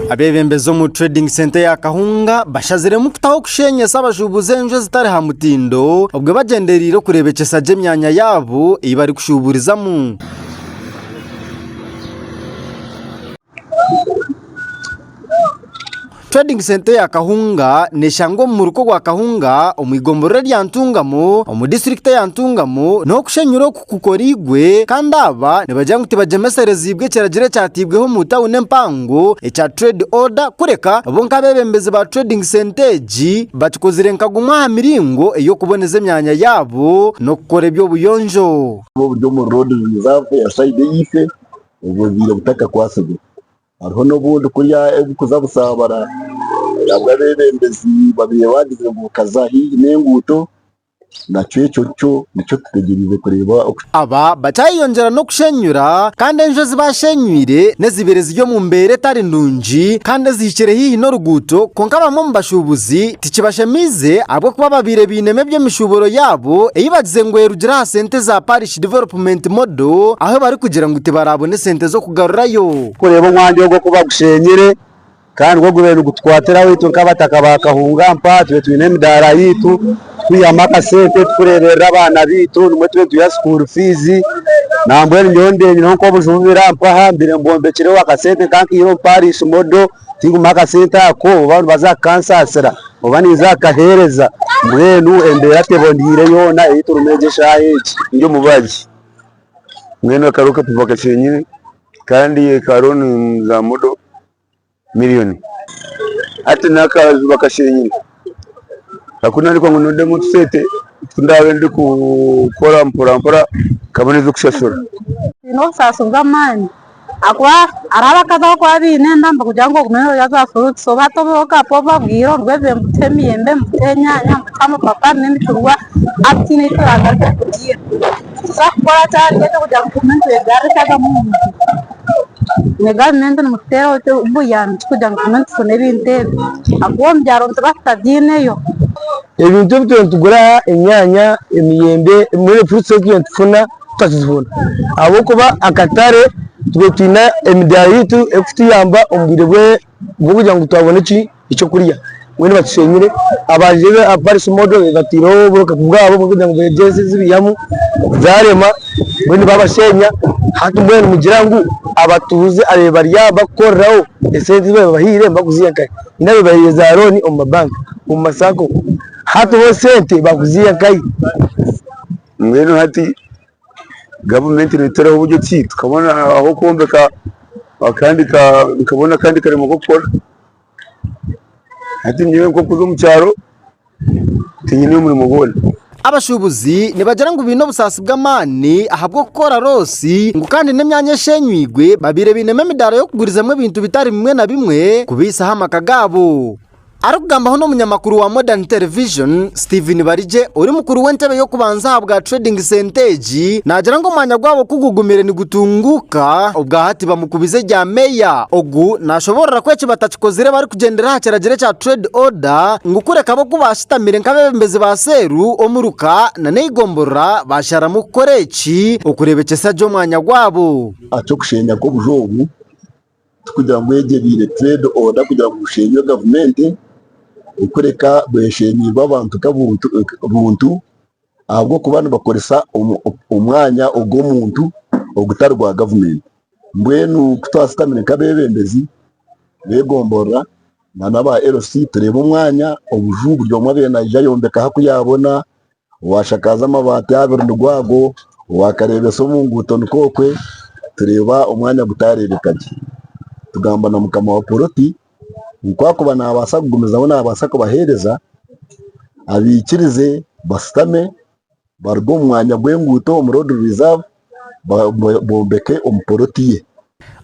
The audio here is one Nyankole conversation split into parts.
Abebembezi omu Trading Centre ya Kahunga bashaziremu kutaho kushenyesa abashubuzi enju ezitari ha mutindo obwe bagyendereire okurebekyesa gye emyanya yabo eyi bari kushuburizamu. Trading Centre ya Kahunga neshangwa omu muruka ogwa Kahunga omu igomborora erya Ntungamo omu disiturikiti eya Ntungamo n'okushenyura oku kukoreirwe kandi aba nibagira ngu tibagyemesereziibwe ekiragiro ekyateibweho omu tawuni empango ekya Trade Order kureka bo nk'abebembezi ba Trading Centre egi bakikozire nka gumwe aha miringo ey'okuboneza emyanya yaabo n'okukora eby'obuyonjo. Oburi omu Road Reserve ya sayidi eyeife obwo bwiire butakakwatsirwe. Hariho n'obundi kurya ebirikuza busaabara ahabwa abeebembezi babaire baagizire ngu bukaza haihi n'enguuto nakyo ekyo kyo nikyo tutegyereize kureeba oku Aba bakyayeyongyera n'okushenyura kandi enju ezi baashenyuire n'ezibaire ziri omu mbeera etari nungi kandi ezihikire haihi n'oruguuto kwonka abamwe omu bashuubuzi tikibashemeize ahabw'okuba babaire bainemu eby'emishuuburo yaabo ei bagize ngu erugire aha sente za Parish Village Development Model ahu barikugira ngu tibaraabone sente z'okugarurayo. Kureeba omwanya ogwo ku bagushenyire kandi gwo gubaire nigutukwatiraho itwe nk'abataka ba Kahungampa tube twine emidaara yaitu kwihamu akasente turikureeberera abaana baitu nimwo tube nituha school fees nambwenu nyowe ndeebireho nk'obuju obu birampa aha mbaire mbombekire akasente nkankaiha omu Parish Model. tingumiho akasente ako oba nibaza kukansaasira oba ninza kukaheereza mbwenu embeera teboniire yoona ei turimu egi eshaaha egi ndi omubazi mbwenu aka roocket box nyine kandi ka loan za modo million hati n'akaaju bakashenyire. Nakunaarikwa ngu nondemu otusente otu ndaabe ndikukora mporampora nkabona eby'okushashura. Tihaine obusaasi bw'amaani ahakuba hariho abakazi abu orikuba oine enda nibakugira ngu ogume noorya za furuuti so hati obu orikuba obabwire orwebire ngu ta emiyembe, ta enyaanya, ta amapapari n'emicungwa hati tihaine eki oraagarukire kugiira. Ebintu ebi twine nitugura aha enyaanya, emiyembe mbwenu fruits ebi twine nitufuna tutakizibona ahabw'okuba akatare twine emidaara yaitu erikutuyamba omu bwire bwe kugira ngu twabona eky'okurya mbwenu batushenyire abandi Paris model bateireho oburofa bwabo kugira ngu begyeze ezibihamu zarema mbwenu babashenya hati mbwenu nigira ngu abatuuze ababaire bari aho bakukoreraho esente ezibabahaire nibakuziha nkahe? Haine ababahaire za looni omu mabanka omu ma sacco hati bo esente bakuziha nkahe? Mbwenu hati Gavumenti ereetereho buryo ki tukabona ah'okwombeka akandi ka tukabona akandi karimo k'okukora. Hati nyowe nk'okuza omu kyaro tinyine murimo gwona. Abashuubuzi nibagira ngu baine obusaasi bw'amaani ahabw'okukora loosi ngu kandi n'emyanya esheenyweirwe babaire bainemu emidaara y'okugurizamu ebintu bitari bimwe na bimwe kubaitsaho amaka gaabo. Arikugambaho n'omunyamakuru wa Modern Television, Steven Barigye ori mukuru w'entebe y'okubanza ahabwa Trading Centre egi, naagira ngu omwanya gwabo ku gugumire nigutunguuka, obwahati bamukubize erya meeya ogu naashoboorora ku eki batakikozire barikugyendera aha kiragiro ekya Trade Order ngu kureka ab'oku baashutamire nk'abeebembezi ba seeru omuruka nana eigomborora baasharamu kukora eki okureebekyesa gye omwanya gwabo. Aha ky'okusheenya kw'obuju obu, Tikugira ngu egyo ebaire trade order kugira ngu bushemerwe gavumenti kureka bweshemeirwe abantu nkabuntu ahabwokuba nibakoresa omwanya ogwomuntu ogutari gwa gavumenti mbwenu kutwashutamire nkabebembezi begomborora nana aba LC nitureba omwanya obuju buri omwe abe naija ayombeka ahaku yabona Owashakaaza amabaati abiri nigwo ago, owakareebesa omu nguuto nikwo okwe, tureeba omwanya gutaareebeka gye. Tugamba na mukama wa poroti ngu akuba naabaasa kugumizaho naabaasa kubaheereza, abaikirize bashutame baruge omu mwanya gw'enguuto omu road reserve bombeke omu poloti ye.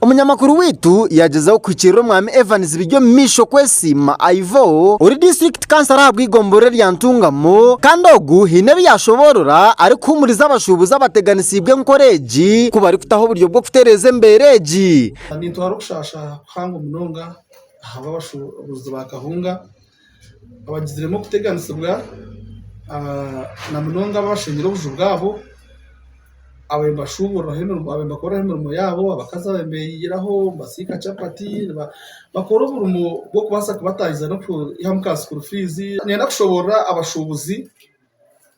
Omunyamakuru waitu yaagyezaho kuhikiirira omwami Evans Biryomumaisho Kwesiima Ivor, ori disiturikiti kansara ahabw'eigomborora erya Ntungamo, kandi ogu haine ebi yaashoboorora arikuhuumuriza abashuubuzi abateganisiibwe enkora egi ku barikutaho oburyo bw'okutereeza embeera egi. Nitwara okushaasha kuhango munonga aha b'abashuubuzi ba kahunga abagiziremu okuteganisibwa na munonga abashengire obuju bwabo abo nibashuburiraho emirimo abo nibakoreraho emirimo yabo abakazi abo nibeyiyiraho nibasiika chapati bakora omurimo gw'okubaasa kubataahiza n'okwihamu ka sukuru fiizi nibenda kushoborora abashubuzi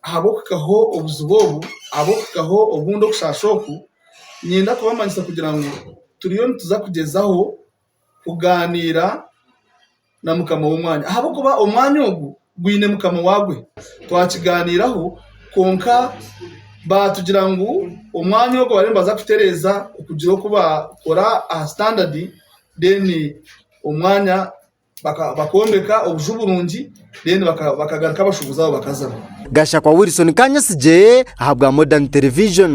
ahabw'okuhikaho obuzibu obu ahabw'okuhikaho obundi obushasha obu nibenda kubamanyisa kugira ngu turiyo nituza kugyezaho kugaaniira na mukama w'omwanya ahabw'okuba omwanya ogu gwine mukama waagwe. Twakigaaniiraho kwonka baatugira ngu omwanya ogu bariyo nibaza kutereeza okugira oku baakora aha sitandadi then omwanya bakoombeka obuju burungi then bakagaruka abashuubuzi abo bakazaho. Gashakwa Wilson Kanyasigye ahabwa Modern Television.